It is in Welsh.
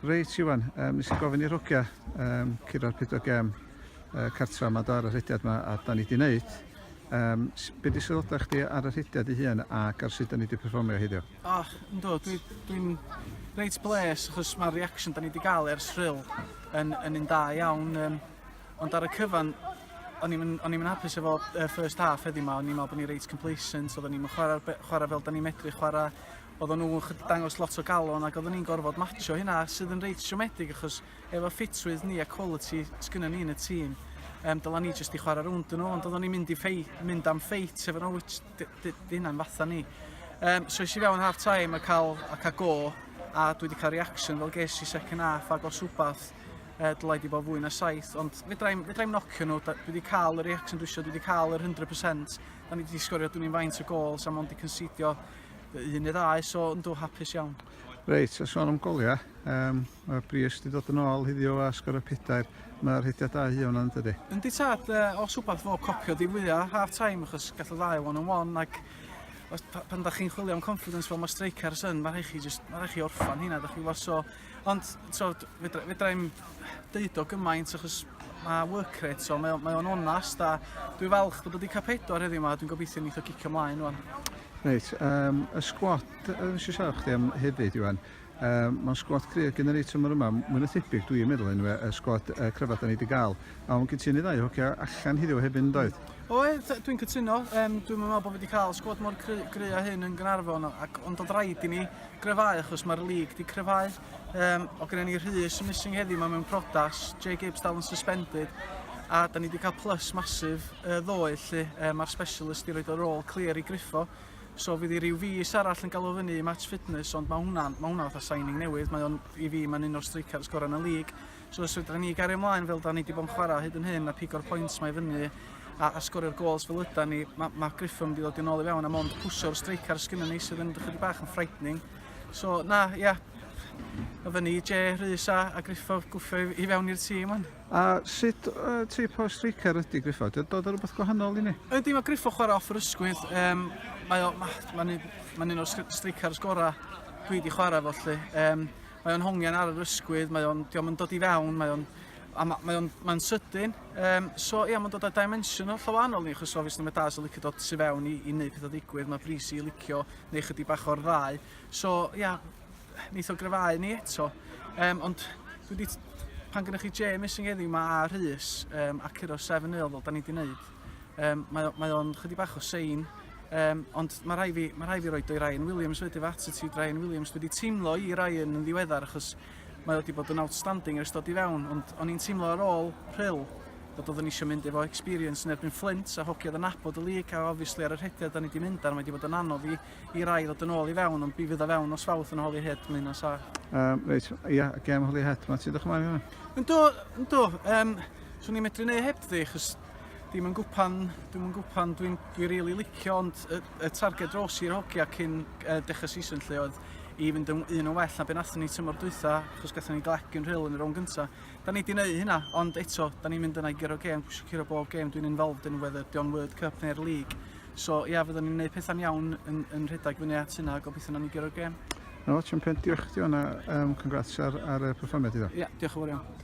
Reit Iwan, um, nes i gofyn i'r hogia um, curo'r 4 gem uh, cartra yma ar y rhediad yma a da ni wedi gwneud. Um, be di sylwadau chdi ar y rhediad i hun ac ar sut da ni wedi performio heddiw? O, oh, ynddo, dwi'n dwi, dwi reit bles achos mae'r reaction da ni wedi cael ers rhyl yn, yn un da iawn. Um, ond ar y cyfan, o'n i'n mynd hapus efo uh, first half heddi yma, o'n i'n meddwl bod ni reit complacent, oedden ni'n chwarae, chwarae fel da ni'n medru chwarae, oedden nhw'n chydig dangos lot o galon ac oedden ni'n gorfod matcho hynna sydd yn reit siomedig achos efo ffitrwydd ni a quality sgynnon ni yn y tîm um, dyla ni jyst i chwarae rownd yn nhw ond oedden ni'n mynd, i ffei, mynd am ffeit efo nhw which di hynna'n fatha ni um, so eisiau fewn half time a cael, a cael go a dwi wedi cael reaction fel ges i second half ac os wbath uh, dylai di bod fwy na saith ond fedrai'm fedra nocio nhw dwi wedi cael y reaction dwi eisiau dwi wedi cael yr 100% da ni wedi sgorio dwi'n i'n faint o gols a mond i considio Un neu ddau, so yn dw hapus iawn. Reit, a sôn am goliau, um, mae Brios wedi dod yn ôl hiddio a sgor y pedair. Mae'r rhediad da hi o'n ydy. Yn di tad, uh, os wbeth fo copio di fwya half time, achos gall y ddau one on one, ac os, pan da chi'n chwilio am confidence fel mae strikers yn, mae rhaid chi, just, mae rhaid chi orffan hynna, da chi lot o Ond t'od fedra- fedrai'm deud o gymaint achos ma' work rate so mae o mae o'n onast a dwi falch bod o 'di ca'l pedwar heddiw 'ma a dwi'n gobeithio neith o gicio mlaen rŵan. Reit yym y sgwad yy nes i siarad chdi am hefyd Iwan yym ma'n sgwad cry' gin yr eitem yma mwy na thebyg dwi'n meddwl enwe y sgwad yy cryfa 'dan ni 'di ga'l a o'n gin ti un neu ddau o hogia allan heddiw hefyd yndoedd? Oedd dwi'n cytuno yym dwi'm yn me'wl bo' fi 'di ca'l sgwad mor cry' gry' â hyn yn Gaernarfon ac ond o'dd raid i ni gryfhau achos mae'r league di cryfhau um, o gyda ni Rhys yn missing heddi mae mewn prodas Jay Gibbs dal yn suspended a da ni wedi cael plus masif uh, ddoe lle uh, mae'r specialist i roed o'r rôl clear i griffo so fydd i ryw fus arall yn galw fyny i match fitness ond mae hwnna'n ma hwnna fatha signing newydd mae o'n i fi mae'n un o'r strikers gorau yn y league So os fedra ni gario ymlaen fel da ni wedi bod yn chwarae hyd yn hyn a pigo'r points mae fyny a, a sgorio'r gols fel yda ni, mae ma Griffin wedi dod i'n ôl i fewn a mond pwsio'r streicar sgynny ni sydd yn chydig bach yn frightening. So na, ia, yeah, o fyny i Je, Rhys a, a Griffo gwffio i, i fewn i'r tîm hwn. A sut uh, teip o streicar ydy Griffo? Dwi'n dod ar rhywbeth gwahanol i ni? Ydy, mae Griffo chwarae off yr ysgwydd. Um, Mae'n ma, ma, ma, ma un o'r streicars gorau dwi wedi chwarae fo lle. Um, Mae o'n hongian ar yr ysgwydd, mae o'n, diolch yn dod i fewn, mae o'n, a ma, mae o'n, mae'n sydyn. Um, so ia, mae'n dod â dimension o llawanol ni, achos obviously mae Daz yn licio dod tu fewn i, i wneud pethau digwydd, mae Brisi yn licio neu chydig bach o'r ddau. So ia, neith o gryfau ni eto. Um, ond dwi wedi, pan gynnwch chi James yn geddi, mae Rhys um, a Curo 7 0 fel da ni wedi wneud, Um, mae, o, mae o'n chydig bach o sein, um, ond mae rhai fi, mae rhai fi roi dwy Ryan Williams wedi fy attitude Ryan Williams. Dwi wedi teimlo i Ryan yn ddiweddar achos mae wedi bod yn outstanding ers dod i fewn, ond o'n i'n teimlo ar ôl rhyl bod oeddwn eisiau mynd efo experience yn erbyn Flint a hoci oedd yn abod y lig a obviously ar y rhediad da ni wedi mynd ar mae wedi bod yn anodd i, i rai ddod yn ôl i fewn ond bydd o fewn os fawth yn holi hyd mynd os a. Um, reit, ia, gem holi hyd, mae ti ddech ymlaen i hwnna? Yn do, yn do, um, swn i'n medru neu heb ddi, chos Dim yn gwpan, dim yn gwpan, dwi'n dwi rili really licio ond y, y targed dros i'r hogia cyn uh, dechrau season lle oedd i fynd yn un yn well na beth nathon ni tymor dwytha achos gatho ni glec yn rhyl yn yr o'n gynta. Da ni di wneud hynna ond eto da ni'n mynd yna i gyro gêm, pwysio curo bob gêm dwi'n involved yn whether Dion World Cup neu'r league. So ia, yeah, fyddwn ni'n gwneud pethau'n iawn yn, yn rhedeg fyny at hynna a gobeithio na ni gyro'r gêm. No, champion, diolch i ti o'na, um, congrats ar, ar y perfformiad iddo. Ia, yeah, diolch yn fawr iawn.